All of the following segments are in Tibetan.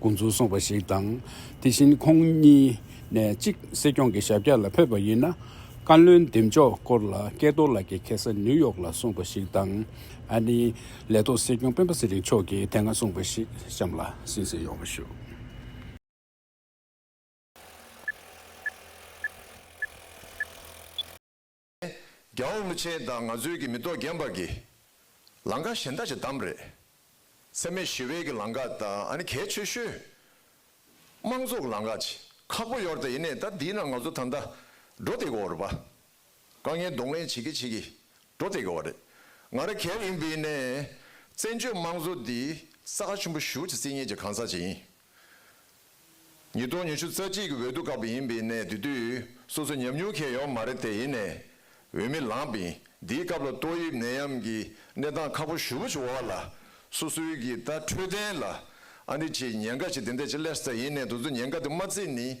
དགོས་ཚུལ་གསུངས་པ་ཞིག་དང། དེ་བཞིན་ཁོང་གཉིས་ནས་གཅིག་སྲིད་སྐྱོང་གི་ཞབས་བཀྱག་ལ་ཕེབས་པ་ཡིན་ན། བཀའ་བློན་འདེམས་འཇོག་སྐོར་ལ་སྐལ་རྡོར་ལགས་ཀྱིས་གེ་སར་ནིའུ་ཡོག་ལ་གསུངས་པ་ཞིག་དང། ཨ་ནི་ལས་ཐོག་སྲིད་སྐྱོང་སྤེན་པ་ཚེ་རིང་མཆོག་གིས་དེ་སྔ་གསུངས་པ་ཞིག་གཤམ་ལ་ཟིན་ཟིན་ཡོང་བ་ཞུ། རྒྱ་འོག་ཀླུ་ཆེན་དང་ནག་ཚོས་ཀྱི་མི་ཏོག་རྒན་པར་གྱིས། ལང་ཀ་གཞན་དག་ཅིག་བདམས་རེད། སེམས་མེད་ཞི་བའི་གྱི་ལང་ཀ་དང་ཨ་ནི་གལ་ཆེ་ཤོས། དམངས་གཙོ་གི་ལང་ཀ་ཅིག་ཁག་པོ་ཡོད་རེད་ད་ཡིན་ནས་ད་འདིའི་ནང་ནག་ཚོ་ད་ད་འགྲོ་དེ་གི་འོ་རེད་པ། དཀའ་ངལ་གདོང་ལེན་བྱེད་གི་བྱེད་གི་འགྲོ་དེ་གི་འོ་རེད། ང་ར་གལ་ཡིན་པའི་ནས་བཙན་བྱོལ་དམངས་གཙོ་འདི་ས་ཁ་ཆུན་པོ་ཞུགས་ཅིག་བརྩི་ངེས་ཀྱི་གང་ཟག་ཅིག་ཡིན། ཉིས་སྟོང་ཉི་ཤུ་རྩ་གཅིག་གི་འོས་བསྡུ་སྐབས་ཡིན་པས་ནས་དེ་དུས་སོ་སོ་ཉམས་མྱོང་ཁེ་ཡོང་མ་རེད་དེ་ཡིན་ནས་འོས་མི་ལངས་པས་འདིའི་སྐབས་ལ་ཏོག་དབྱིབས་ནད་ཡམས་ཀྱི་གནས་སྟངས་ཁག་པོ་ཞུ་བ་ཞུ་བ་བ་ལ་སོ་སོའི་གི་ད་འཕྲོད་བསྟེན་ལ་ཨ་འདི་ཆེ་ཉེན་ཀ་ཞིག་དེ་འད་ཆེ་ལས་ས་ཡིན་ནས་དུ་ཚོ་ཉེན་ཀ་དེ་མ་བརྩིས་ནི།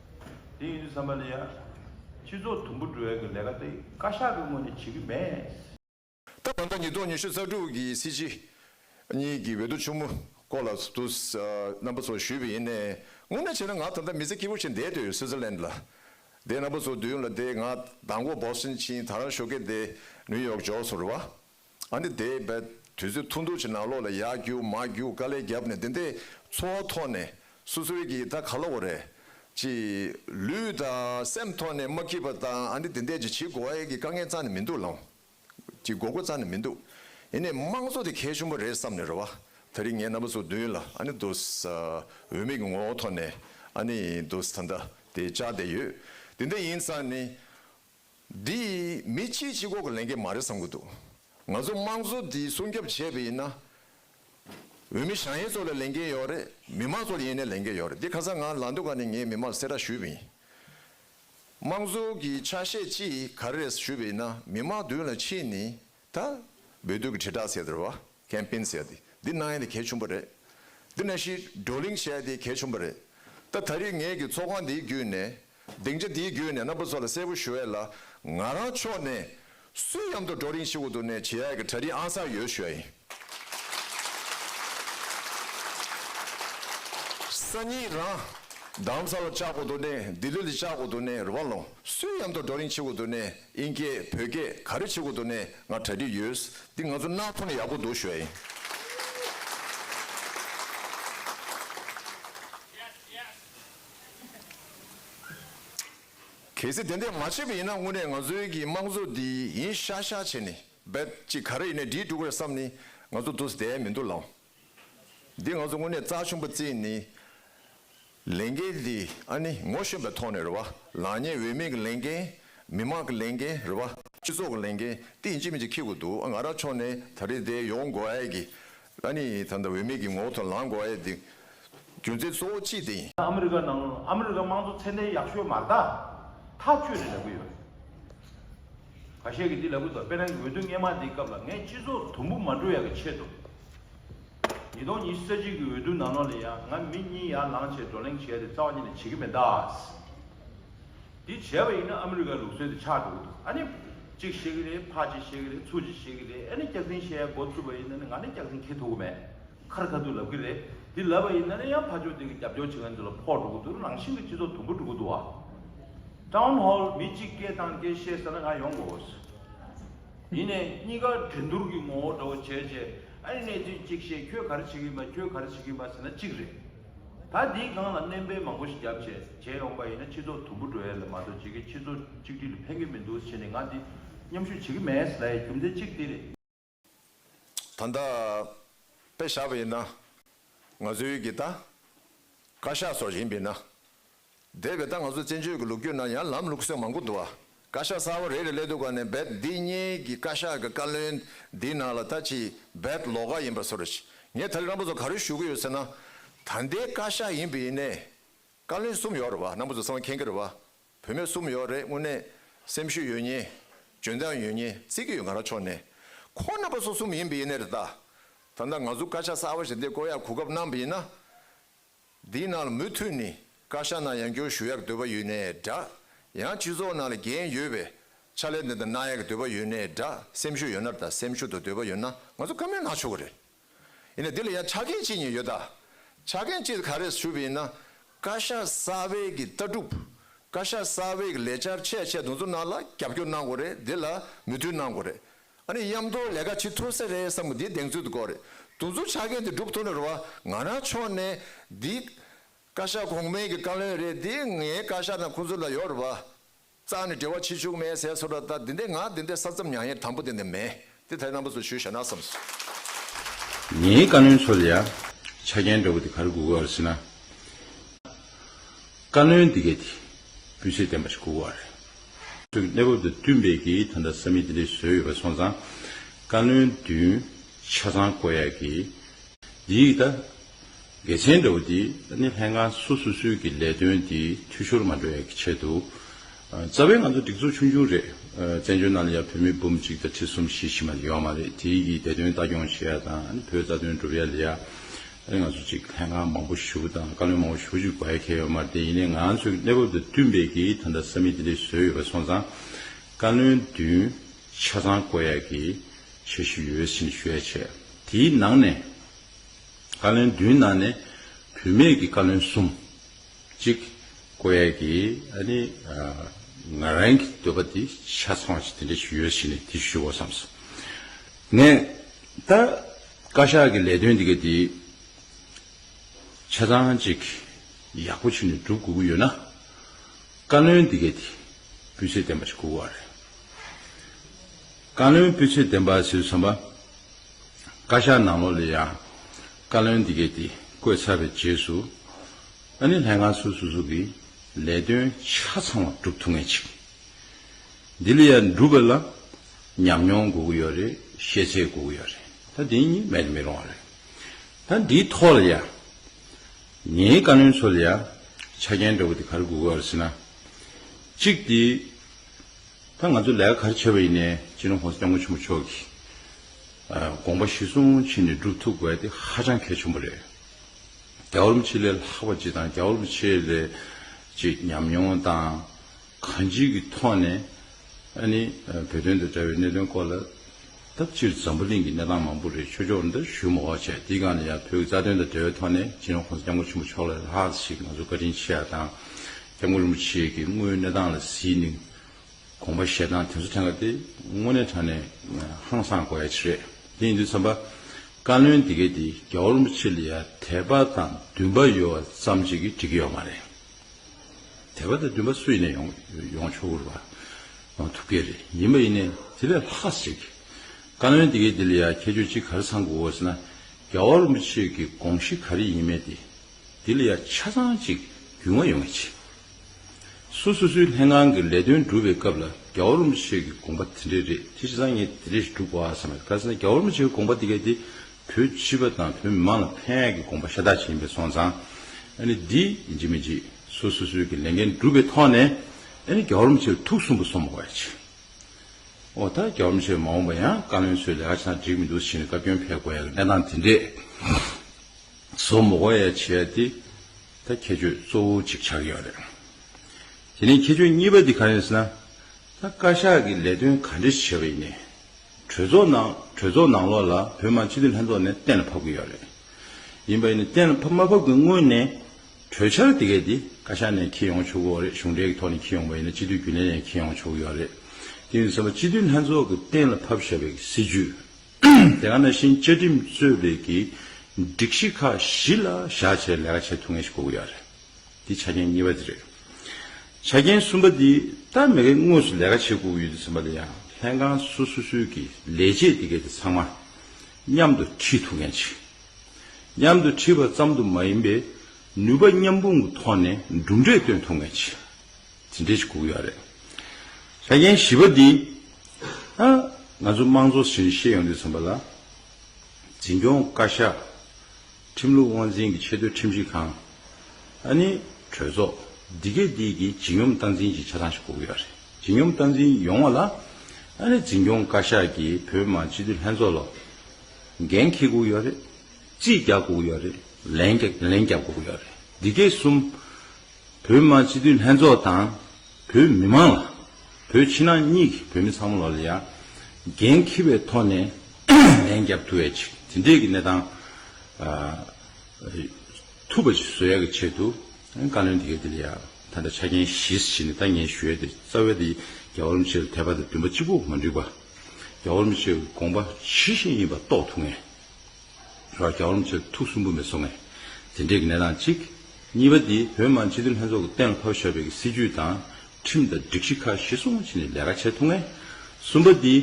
དེ་ཡིན་དུས་བསམ་པ་ནི་ཡང་སྤྱི་ཚོགས་དུམ་བུ་འགྲོ་བའི་གི་ལས་ཀ་དེ་བཀའ་ཤག་གི་ངོས་ནས་བྱེད་ཀྱི་མེད། ད་བར་ཟླ་ཉིས་སྟོང་ཉི་ཤུ་རྩ་དྲུག་གི་སྲིད་སྤྱི་གཉིས་ཀྱི་འོས་བསྡུ་ཆུང་མོ་སྐོར་ལ་ཚོགས་འདུ་རྣམ་པ་ཚོགས་ཞུས་པ་ཡིན། དངོས་གནས་བྱས་ན་ང་ད་ལྟ་མི་ཚེ་སྐྱིད་པོ་ཞིག་འདས་དུས་སུའི་ཛི་ལན་ལ་བསྡད་རྣམ་པ་ཚོ་བསྡུས་ཡོང་ལ་བསྡད་ང་ད་མགོ་འབོག་ཟིན་ཕྱིན་ད་རང་ཤོ་ཀེ་བསྡད་ནུའུ་ཡོག་ཇོ་སོར་བ་ཨ་འདི་དེ་བས་དུས་ཚོད་ཐུང་ཐུང་ཞིག་ནང་ལོག་ལ་ཡར་རྒྱུག་མར་རྒྱུག་དཀའ་ལས་བརྒྱབ་ནས་འདི་འདྲའི་འཚོ་བ་ཐོག་ནས་སོ་སོའི་གི་ད་ག་ལ་འོ་རེད་ཅེས། ལུས་དང་སེམས་ཐོག་ནས་མ་སྐྱིད་པ་དང་ཨ་འདི་དེ་འདྲས་ཀྱི་བྱེད་དགོ་ཨེ་གི་དཀའ་ངལ་ཙང་ནས་མི་འདུག་ལམ་གྱི་དགོ་དགོ་ཙང་ནས་མི་འདུག་ཡིན་ནའི་དམངས་གཙོ་དེ་གལ་ཆུང་པོ་རེད་བསམ་ནས་རེད་བ་ད་རིང་ངའི་རྣམ་པ་ཚོ་མདུན་ལ་ཨ་ནི་འདུག་ས་འོས་མེད་ཀྱི་ངོ་བོ་ཐོག་ནས་ཨ་ནི་འདུག་ས་ད་ལྟ་དེ་བཅག་བསྡད་ཡོད་དེ་འདྲ་ཡིན་ཙང་ནས། འདི་ཡིས་མི་ཕྱིའི་སྤྱི་ཁོག་གི་ལན་སྐྱེལ་མ་རེད་བསམ་གྱི་འདུག་ང་ཚོ་དམངས་གཙོ་འདི་སྲུང་སྐྱོབ་བྱས་པ་ཡིན་ན། འོས་མི་ཞང་ཡེ་ཚོ་ལ་ལན་སྐྱེལ་ཡོད་རེད་མི་དམངས་ཚོ་ལ་ཡིན་ན་ལན་སྐྱེལ་ཡོད་རེད་འདི་ཁ་སང་ང་ལངས་དུས་ཀ་ནས་ངས་མི་དམངས་ལ་གསལ་བསྒྲགས་ཞུས་པ་ཡིན། དམངས་གཙོ་གི་ཆ་ཤས་ཅི་ག་རེ་རེད་ཟེར་ཞུས་པ་ཡིན་ན་མི་དམངས་མདུན་ལ་ཕྱིན་ནས་ད། འབོད་སྡུད་ཀྱི་དྲིལ་བསྒྲགས་ཟེར་དུ་རུ་བ། Campaign། ཟེར་ཏེ་འདི་གནང་ཡས་དེ་གལ་ཆུང་པོ་རེད། འདི་ན་ཤི་གྲོ་གླིང་བཤད་དེ་གལ་ཆུང་པོ་རེད། ད་ད་རིས་ངས་ཀྱི་ཚོགས་ཁང་འདིའི་བརྒྱུད་ནས། སྡིངས་ཆ་འདིའི་བརྒྱུད་ནས་རྣམ་པ་ཚོ་ལ་གསལ་པོ་ཞུ་ཡས་ལ། ང་རང་ཕྱོགས་ནས། སུས་ཡམ་དུ་གྲོ་གླིང་ཤི་འུ་དུ་ནས་བྱེད་ཡས་ཀྱི་གྲ་རིས་ཨང་སངས་ཡོད་ཞུ་ཡ་ཡིན། སང་ཉིན་རང། གདམ་ས་ལ་བཅག་འུ་དུ་ནས་ལྡི་ལི་ལ་བཅག་འུ་དུ་ནས་རུ་བ་ལོངས། སུས་ཡམ་དུ་གྲོ་གླིང་ཤི་འུ་དུ་ནས། ཨིན་སྐད་བོད་སྐད་ག་རེ་བྱེད་དགོས་འདུག་ནས་ང་གྲ་སྒྲིག་ཡོད། འདི་ང་ཚོ་སྣག་ཐོག་ནས་ཡག་པོ་འདུག་ཞོའི་ཨིན། གལ་སྲིད་དེ་འད་མ་བྱས་པ་ཡིན་ན་དངོས་གནས་ང་ཚོའི་གི་དམངས་གཙོ་འདི་ཡིན་ཤག་ཤག་བྱས་ནས་འབད་ཅིག་ག་རེ་ཡིན་ནས་འདྲིས་འགྲོ་གི་རེད་བསམ་ནས་ང་ཚོ་འདུག་བསྡད་མི་འདུག་ལངས། འདི་ང་ཚོ་དངོས་གནས་རྩ་ཆེན་པོ་བརྩིས་ནས་ལས་འགན་འདི་ཨ་ནི་ངོ་ཤེས་པའི་ཐོག་ནས་རེད་བ། ལག་གཉིས་འོས་མིན་གྱི་ལས་འགན། མི་དམངས་ཀྱི་ལས་འགན་རེད་བ། སྤྱི་ཚོགས་ཀྱི་ལས་འགན་ཏིག་ཅིག་མིན་ཅིག་འཁྱེར་དགོས་འདུག་ཨ་ང་རང་ཕྱོགས་ནས་ད་རེས་འདི་ཡོང་དགོས་ཨེ་གི། ཨ་ནི་ད་ལྟ་འོས་མིན་གྱི་ངོ་བོ་ཐོག་ལངས་དགོས་ཨེ་འདི། རྒྱུ་མཚན་གཙོ་བོ་ཅི་སྟེ། ཨ་མི་རི་ཀ་ནང་ཨ་མི་རི་ཀ་དམངས་གཙོ་ཚད་ལྡན་ཡག་ཤོས་མ་རྟགས་ཐག་གཅོད་རེ་ལབ་གི་ཡོད། ག་ཤེད་ཀྱི་འདི་ལབ་གི་འདུག་དཔེར་ན་འོས་བསྡུ་སྔས་མ་འདིའི་སྐབས་ལ་ངས་སྤྱི་ཚོགས་དུམ་བུ་མ་འགྲོ་ཡག་གི་ཆེད་དུ། ཉིས་སྟོང་ཉི་ཤུ་རྩ་གཅིག་གི་འོས་བསྡུ་ནང་ནོར་ལེ་ཡང་ང་མི་གཉིས་ཡར་ལངས་བྱས་བགྲོ་གླེང་བྱས་ཏེ་རྩ་བ་ཉིད་ནས་བྱེད་ཀྱི་མེད་དཱས། འདི་བྱས་པ་ཡིན་ན་ཨ་མི་རི་ཀའི་ལུགས་སྲོལ་དེ་ཆགས་འགྲོ་གི་འདུག་ཨ་ནི། གཅིག་བཤད་ཀྱི་རེད་ཕག་གཅིག་བཤད་ཀྱི་རེད་ཚུགས་གཅིག་བཤད་ཀྱི་རེད་ཨེ་ནི་སྐྱག་ཟིང་བཤད་ཡ་འགོ་ཚུད་པ་ཡིན་ན་ནི་ང་ནི་སྐྱག་ཟིང་ཁེལ་ཐུབ་གི་མེད། ཁར་ཁ་ཐུག་ལབ་གི་རེད། འདི་ལབ་པ་ཡིན་ན་ནི་ཡང་ཕར་ཕྱོགས་སྟེང་གི་རྒྱབ་སྐྱོར་བྱེད་མཁན་ཚོ་ལ་ཕོག་འགྲོ་གི་འདུག་རང་བཞིན་གྱི་སྤྱི་ཚོགས་དུམ་བུ་འགྲོ་གི་འདུག་བ། Town Hall མི་གཅིག་སྐད་བཏང་སྐད་བཤད་ས་ན་ང་ཡོང་དགོས་བས། ཡིན་ནས་གཉིས་ཀ་འགྲན་བསྡུར་གྱི་ངོ་བོ་འདྲ་བོ་བྱས་རྗེས་ཨ་ནི་གནས་ཚུལ་གཅིག་བཤད་ཁྱོད་ག་རེ་བྱེད་གིན་པ་ཁྱོད་ག་རེ་བྱེད་གིན་པ་ཟེར་ན་གཅིག་རེད། ད་འདིའི་སྒང་ལ་སྣེ་འབེན་མང་པོ་ཞིག་རྒྱབ་བྱས་བྱས་ཡོང་པ་ཡིན་ན་སྤྱི་ཚོགས་དུམ་བུ་འགྲོ་ཡ་ལས་མ་གཏོགས་བྱེད་ཀྱི་སྤྱི་ཚོགས་གཅིག་སྒྲིལ་ལ་ཕན་གི་མི་འདུག་བྱས་ནས་ང་འདི་མཉམ་ཞུགས་བྱེད་ཀྱི་མེད་ལ་ཡ་རྒྱུ་མཚན་གཅིག་འདི་རེད། ད་ལྟ་དཔེ་བཞག་པ་ཡིན་ན། ང་ཚོའི་གི་ད། བཀའ་ཤག་སོགས་ཡིན་པས་ན། དེར་གི་ད་ང་ཚོ་བཙན་བྱོལ་གི་ལུགས་རྒྱུད་ན་ཡང་ལམ་ལུགས་སེང་མང་པོ་འདུག་ཨ། བཀའ་ཤག་གསར་བ་རེ་རེ་ལས་འདུག་ག་ནས་འབད་འདི་གཉིས་གི་བཀའ་ཤག་གི་བཀའ་བློན་འདིའི་ནང་ལ་ད་ཅི་འབད་ལོག་ག་ཡིན་པ་སོ་རེད། ངས་ད་རི་རང་པོ་ཚོ་ག་རེ་ཞུ་གི་ཡོད་ཟེར་ན། ད་ལྟའི་བཀའ་ཤག་ཡིན་པས་ཡིན་ནས། བཀའ་བློན་གསུམ་ཡོད་རེད་བ་རྣམ་པོ་ཚོ་གསང་བ་མཁྱེན་གི་རེད་བ། བུད་མེད་གསུམ་ཡོད་རེད་དངོས་གནས་སེམས་ཤུགས་ཡོད་ཉེ། འཇོན་ཐང་ཡོད་ཉེ་རྩིས་ཀྱི་ཡོད་ང་རང་ཕྱོགས་ནས། ཁོ་རྣམ་པ་སོ་གསུམ་ཡིན་པའི་ཡིན་ནའི་རེད་ད། ད་ནངས་ང་ཚོ་བཀའ་ཤག་གསར་བ་ཞིག་འདེ་བསྐོ་ཡག་གོ་སྐབས་གནང་བ་ཡིན་ན། འདིའི་ནང་ལ་མུ་མཐུད་ནས་བཀའ་ཤག་ནང་ཡང་འཁྱོར་ཞུ་ཡག་འདོད་པ་ཡོད་ནའི་འདྲ། ཡང་སྤྱི་ཚོགས་ནང་ལ་འགན་ཡོད་པའི་ཕྱག་ལས་འདི་དང་གནང་ཡག་འདོད་པ་ཡོད་ནའི་འདྲ་སེམས་ཤུགས་ཡོད་ན་རེད་ད་སེམས་ཤུགས་དང་འདོད་པ་ཡོད་ན་ང་ཚོ་བཀའ་མོལ་གནང་ཆོག་གི་རེད། ཡིན་ནས་དེ་ལ་ཡང་ཆ་རྐྱེན་ཅི་ཉིད་ཡོད། ཆ་རྐྱེན་ཅི་ག་རེ་ཞུས་པ་ཡིན་ན། བཀའ་ཤག་གསར་བའི་གི་ལྟ་གྲུབ། བཀའ་ཤག་གསར་བའི་གི་ལས་འཆར་ཆད་ཆད་དུ་འཛུགས་གནང་ལ་རྒྱབ་སྐྱོར་གནང་དགོས་རེད་དེ་ལ་མོས་མཐུན་གནང་དགོས་རེད། ཨ་ནི་མཉམ་དུ་ལས་ཀ་བྱེད་ཐུབ་ས་རེད་བསམ་པ་དེ་གདེང་ཚོད་དུ་དགོས་རེད་དུ་འཛུགས་ཆ་རྐྱེན་དེ་སྒྲུབ་ཐུབ་ན་རེད་བ་ང་རང་ཕྱོགས་ནས་འདི། བཀའ་ཤག་གོང་མའི་གི་བཀའ་བློན་རེད་དེ་ངའི་བཀའ་ཤག་ནང་ཁོང་ཚོ་ལ་ཡོད་རེད་བ། རྩ་ནི་འབྲེལ་བ་ཆེ་ཆུང་མེད་ཟེར་སོ་ད་འདི་འདི་ང་འདི་འདི་ས་མཚམས་མྱང་ཡས་དང་པོ་འདི་འདི་མེད་དེ་ད་རྣམ་པ་ཚོ་ཞུ་ཞེ་ན་བསམ་སོང། ངའི་བཀའ་བློན་ཚོ་ལ་ཡ། ཆ་རྐྱེན་འདྲ་བོ་དེ་ག་རེ་དགོས་ཀ་རེ་ཟེར་ན། བཀའ་བློན་འདི་གས་དེ་སྤུས་ཚད་ལྡན་པ་ཞིག་དགོས་ཀ་རེད། ཚོའི་གནས་བབ་དང་བསྟུན་པས་ཀྱི་ད་ལྟ་ས་མིག་འདི་འདྲས་བཟོས་ཡོད་པ་སོང་ཙང། བཀའ་བློན་བདུན་ཆ་ཚང་བསྐོ་ཡག་གི། འདིའི་ད་གལ་ཆེན་འདྲ་བོ་འདི་ད་ནི་ལྷན་ཁང་སོ་སོ་སོའི་གི་ལས་དོན་འདི་འཐུས་ཤོར་མ་འགྲོ་ཡ་གི་ཆེད་དུ། རྩ་བའི་ང་ཚོ་སྒྲིག་འཛུགས་ཆུང་ཆུང་རེད། བཙན་བྱོལ་ནང་ལ་ཡ་བོད་མི་འབུམ་གཅིག་དང་ཁྲི་གསུམ་བཞི་བཞི་མ་ལ་ཡོག་མ་རེད་དེ་གི་བདེ་དོན་ལྟ་སྐྱོང་བྱེད་ཡ་དང་ཨ་ནི་བོད་རྩ་དོན་སྒྲུབ་ཡ་ལ་ཡ། ཨ་ནི་ང་ཚོ་ཅིག་ལྷན་ཁང་མང་པོ་ཞུ་དང་བཀའ་བློན་མང་བོ་ཞུ་ཅིག་དགོས་ཡ་ཁྱེད་ཡོག་མ་རེད་དེ་ཡིན་ནའི་ང་ཚོའི་གི་གནས་བབ་དང་བསྟུན་པའི་གི་ད་ལྟ་ས་མིག་དེ་འདྲའི་བཟོས་ཡོད་པ་སོང་ཙང། བཀའ་བློན་བདུན་ཆ་ཚང་བསྐོ་ཡ་གི་བྱེད་ཞུ་ཡོད་ཟིན་ཞུ་ཡ་བྱས། དེའི་ནང་ནས། བཀའ་བློན་བདུན་ནང་ནས་བུད་མེད་ཀྱི་བཀའ་བློན་གསུམ། གཅིག། ཀོ་ཡེ་གི་ཨ་ནི། ང་རང་གི་འདོད་པ་དེ་ཆ་ཚང་ཞིག་དེ་འདྲ་ཞིག་ཡོད་ཞིག་ནས་དེ་ཞུ་བ་བསམ་སོང། ངས་ད་བཀའ་ཤག་གི་ལས་དོན་འདི་ག་དེ་ཆ་ཚང་ཅིག་ཡག་པོ་ཞིག་ནས་སྒྲུབ་དགོས་ཀྱི་ཡོད་ན། བཀའ་བློན་འདི་ག་དེ་སྤུས་ཚད་ལྡན་པ་ཞིག་དགོས་ཀྱི་རེད། བཀའ་བློན་སྤུས་ཚད་ལྡན་པ་ཟེར་བསམ་པ། བཀའ་ཤག་ནང་ལོགས་ལས་ཡང་བཀའ་བློན་འདི་གས་དེ་བཀོད་ཚར་བའི་རྗེས་སུ། ཨ་ནི་ལྷན་ཁང་སོ་སོ་སོ་གིས་ལས་དོན་ཆ་ཚང་བ་བསྒྲུབ་ཐུབ་ངེས་ཅིག་འདི་ལ་ཡང་འགྲུབ་པ་ལ་ཉམས་མྱོང་དགོས་ཀྱི་ཡོད་རེད་ཤེས་ཚད་དགོས་ཀྱི་ཡོད་རེད་ད་དེ་གཉིས་མེད་དུ་མི་རུང་བ་རེད་ད་འདིའི་ཐོག་ལ་ཡང་ངའི་བཀའ་བློན་ཚོ་ལ་ཡང་ཆ་རྐྱེན་འདྲ་བོ་དེ་ག་རེ་དགོས་ཀྱི་ཡོད་རེད་ཟེར་ན། གཅིག་དེ། ད་ང་ཚོ་ལས་ཀ་ག་རེ་བྱ་བ་ཡིན་ནའི་ཕྱི་རོལ་ཧོང་སི་སྐྱབས་མགོན་ཆེན་པོ་མཆོག་གིས་དགོངས་པ་གཞི་བཟུང་ཕྱིན་ནས་སྒྲུབ་ཐུབ་དགོས་དེ་ཧ་ཅང་གལ་ཆེན་པོ་རེད། རྒྱ་ཨོ་རིམ་ཆེ་ལས་ལྷག་པ་ཅི་དང་རྒྱ་ཨོ་རིམ་ཆེ་ལས་ཅི་ཉམས་མྱོང་དང་གང་ཅིའི་གི་ཐོག་ནས་ཨ་ནི་བོད་དོན་དང་འདྲ་བའི་གནད་དོན་སྐོར་ལ་ད་སྤྱིར་འཛམ་བུ་གླིང་གི་གནས་སྟངས་མང་པོ་རེད་ཆོས་ཕྱོགས་འདིར་ཞུ་མོག་བྱས་དེའི་སྒང་ནས་ཡང་བོད་ཀྱི་རྩ་དོན་དང་འབྲེལ་བའི་ཐོག་ནས་ཕྱི་རོལ་ཧོང་སི་སྐྱབས་མགོན་ཆེན་པོ་མཆོག་ལ་ལྷག་ཅིག་ང་ཚོ་བཀའ་དྲིན་ཆེ་ཡ་དང་སྐྱབས་མགོན་རིན་པོ་ཆེ་གིས་དངོས་ཡོད་གནས་སྟངས་ལ་གཟིགས་ནས་དགོངས་པ་བཞེས་སྟངས་དེ་ཚོ་ཐེངས་འགའ་དེ་དངོས་གནས་དྲང་ནས་ཧང་སངས་དགོས་ཡ་ཆེ་རེད་དེ་ཡིན་དུས་བསམ་པ། བཀའ་བློན་འདི་གས་དེ་རྒྱ་བོ་རིན་པོ་ཆེ་ལ་ཡ་དད་པ་དང་འདུན་པ་ཡོད་བ་ཙམ་ཅིག་གིས་འགྲིག་གི་ཡོད་མ་རེད། དད་པ་དང་འདུན་པ་སུ་ཡིན་ནས་ཡོང་ཡོང་ཆོག་གུ་རུ་བ་ཡོང་ཐུབ་གི་རེད་ཡིན་པ་ཡིན་ནས་དེ་ལས་ལྷག་ས་ཅིག་བཀའ་བློན་འདི་གས་དེ་ལ་ཡ་ཁྱད་ཆོས་ཅིག་ག་རེ་ཚང་དགོས་ཟེར་ན་རྒྱ་བོ་རིན་པོ་ཆེ་གི་དགོངས་གཞི་ག་རེ་ཡིན་མེད་དེ་འདི་ལ་ཡ་ཆ་ཚང་ཅིག་རྒྱུས་མངའ་ཡོང་བ་བྱེད། སུ་སོ་སོའི་ལྷན་ཁང་གི་ལས་དོན་སྒྲུབ་པའི་སྐབས་ལ་རྒྱ་འོར་མོ་ཆེ་གི་དགོངས་པ་དེ་འདྲས་རེད་དེ་ཆ་ཚང་ངས་དེ་འདྲས་ཞིག་སྒྲུབ་དགོས་ཨ་བསམ་པས་ག་ཚད་ན་རྒྱ་འོར་མོ་ཆེའི་དགོངས་པ་དེ་ག་དེ་བོད་སྤྱི་པ་དང་བོད་མི་མང་ལ་ཕན་ཡག་གི་དགོངས་པ་ཤ་སྟག་ཅིག་ཡིན་པས་སོང་ཙང་ཨ་ནི་འདི་བརྗེད་མི་བརྗེད་སུ་སོ་སོའི་གི་ལས་འགན་སྒྲུབ་པའི་ཐོག་ནས་ཨ་ནི་རྒྱ་འོར་མོ་ཆེར་ཐུགས་གསུམ་པོ་སོང་མ་དགོས་ཡ་བྱེད། ཨོ་ད་རྒྱ་འོར་མོ་ཆེར་མ་འོངས་པ་ཡང་བཀའ་བློན་ཚོའི་ལས་ཀ་ཆ་ཚང་འགྲིག་མི་འདུག་ཟེར་ནས་བཀའ་བཀྱོན་ཕེབས་དགོས་ཡ་གི་གནས་སྟངས་དེ་འདྲས། བཟོ་མོ་གོ་ཡ་བྱས་ཏེ་ད་ཁྱད་ཆོས་གཙོ་བོ་གཅིག་ཆགས་ཡོད་རེད། དེ་ནས་ཁྱད་ཆོས་གཉིས་པ་དེ་གང་ཡིན་ཟེར་ན། ད་བཀའ་ཤག་གིས་ལས་དོན་ག་འདྲ་ཞིག་བྱས་པ་ཡིན་ནས། གྲོས་ཚོགས་ནང་གྲོས་ཚོགས་ནང་ལོགས་ལ་བོད་མང་སྤྱི་འཐུས་ལྷན་ཚོགས་ནས་གཏན་ལ་ཕབ་གི་ཡོད་རེད། ཡིན་པ་ཡིན་ནས་གཏན་ལ་ཕབ་མ་ཕབ་གི་སྔོན་ནས། གྲོས་འཆར་དེ་གའི་དེ་བཀའ་ཤག་ནས་འཁྱེར་ཡོང་ཆོག་གི་འོ་རེད་གཞུང་འབྲེལ་གྱི་ཐོག་ནས་འཁྱེར་ཡོང་པ་ཡིན་ན་སྤྱི་འཐུས་རྒྱུན་ལས་ནས་འཁྱེར་ཡོང་ཆོག་གི་ཡོད་རེད། དེ་ཡིན་ཟེར་བ་སྤྱི་འཐུས་ལྷན་ཚོགས་ཀྱི་གཏན་ལ་ཕབ་ཞེས་པའི་སྲིད་ཇུས། དེ་ག་ནང་བཞིན་བཅའ་ཁྲིམས་རྩོད་པའི་གི་སྒྲིག་གཞི་ཁག་བཞི་ལ་བཞག་བྱས་ལས་ཀ་བྱེད་ཐུབ་ངེས་ཤིག་གོ་གི་ཡ་རེད། དེ་ཆ་རྐྱེན་གཉིས་པ་དེ་རེད། ཆ་རྐྱེན་གསུམ་པ་དེ་སྟབས་མེད་ཀའི་དངོས་སུ་ལས་ཀ་བྱེད་དགོས་གི་ཡོད་དེ་ཟེར་མ་དེ་ཡང་ལྷན་ཁང་སོ་སོ་སོའི་གི་ལས་བྱེད་དེ་གའི་དེ་ཚང་མ་མཉམ་དུ་ཁྲིད་ཐུབ་མཁན་ཞིག་མཉམ་དུ་ཁྲིད་པ་ཙམ་དུ་མ་ཡིན་པའི་ནུས་པ་མཉམ་སྤུངས་ཀི་ཐོག་ནས་གྲུབ་འབྲས་སྟོན་ཐུབ་མཁན་ཞིག། དེ་འདྲས་ཤིག་སྒུག་ཡོད་རེད། ཆ་རྐྱེན་བཞི་པ་འདི། ཨ། ང་ཚོ་དམངས་གཙོ་ཟེར་ནས་ཤེས་ཡོང་དུས་ཚན་པ་ལ། འཛིན་སྐྱོང་བཀའ་ཤག། ཁྲིམས་ལུགས་དབང་འཛིན་གྱི་ཆེས་མཐོའི་ཁྲིམས་ཞིབ་ཁང། ཨ་ནི། གྲོས་ཚོགས། འདི་གས་འདི་གིས་བརྗིད་སྙོམས་སྟངས་འཛིན་གྱི་ཆ་ཚང་ཞིག་སྒུག་ཡོད་རེད། བརྗིད་སྙོམས་སྟངས་འཛིན་ཡོང་བ་ལ། ཨ་ནི་འཛིན་སྐྱོང་བཀའ་ཤག་གིས་བོད་མི་མང་སྤྱི་འཐུས་ལྷན་ཚོགས་ལ། འགན་འཁྱེར་སྒུག་ཡོད་རེད། རྩིས་རྒྱག་སྒུག་ཡོད་རེད། ལན་རྒྱབ་སྒུག་ཡོད་རེད། འདི་གས་གསུམ། བོད་དམག་སྤྱི་འཐུས་ལྷན་ཚོགས་དང་བོད་མི་མང་ལ། བོད་ཕྱི་ནང་གཉིས་ཀྱི་བོད་མི་ཚང་མ་ལ་ལ་ཡང་འགན་འཁྱིལ་བའི་ཐོག་ནས་ལན་བརྒྱབ་ཐུབ་ཡ་ཅིག་དེ་འདྲས་ཀྱི་གནས་སྟངས་ཐུབ་པ་ཅིག་བཟོ་ཡ་གི་ཆེད་དུ་བཀའ་བློན་དེ་གའི་དེ་ལ་ཡང་ད་ལྟ་ཆ་རྐྱེན་གཞི་ཞིག་ནས་ད་ངས་ཞུ་ཡ་དེ་རྩ་བའི་དེ་རྒྱ་བོར་མི་ཆེ་ལ་དད་པ་དང་འདུན་པ་གཅིག་པུ་མ་འགྲིག་པ། རྒྱ་བོར་མི་ཆེ་གི་དགོངས་པ་ཇི་བཞིན་ཡིན་པ་རྟོགས་ཐུབ་ངེས། ར་གྱ་རོམ་ཚོས་ཐུགས་སུན་པོ་མི་གསོ་ངེས། དེ་འདྲའི་གནས་སྟངས་གཅིག། གཉིས་པ་དེ་བོད་དམངས་སྤྱི་འཐུས་ལྷན་ཚོགས་ཀྱི་གཏན་ལ་ཕབ་བཞག་པའི་སྲིད་ཇུས་དང་ཁྲིམས་དང་སྒྲིག་གཞི་ཁག་གཞི་སྲུང་བྱས་ནས་ལས་ཀ་བྱེད་ཐུབ་ངེས། གསུམ་པ་དེ།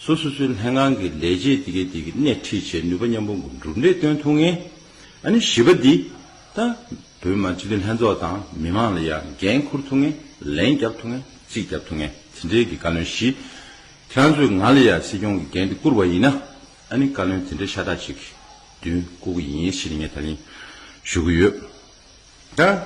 སོ་སོ་སོའི་ལྷན་ཁང་གི་ལས་བྱེད་དེ་གས་དེ་གི་སྣེ་ཁྲིད་བྱེད་ནུས་པ་མཉམ་པོ་འགོ་འགྲུབ་འདྲེས་སྟོན་ཐུབ་ངེས། ཨ་ནི་བཞི་པ་དེ། ད་བོད་དམངས་སྤྱི་འཐུས་ལྷན་ཚོགས་དང་མི་དམངས་ལ་ཡང་འགན་འཁུར་ཐུབ་ངེས་ལན་རྒྱབ་ཐུབ་ངེས་རྩིས་རྒྱབ་ཐུབ་ངེས་དེ་འདྲའི་གི་བཀའ་བློན་བཞི། ཁྱེད་རང་ཚོས་ང་ལ་ཡང་སྲིད་སྐྱོང་གི་འགན་དེ་བསྐུར་བ་ཡིན་ན། ཨ་ནི་བཀའ་བློན་དེ་འདྲའི་ཤ་སྟག་ཅིག་བདུན་བསྐོ་གི་ཡིན་ཞེས་ངས་ད་ནི་ཞུ་གི་ཡོད།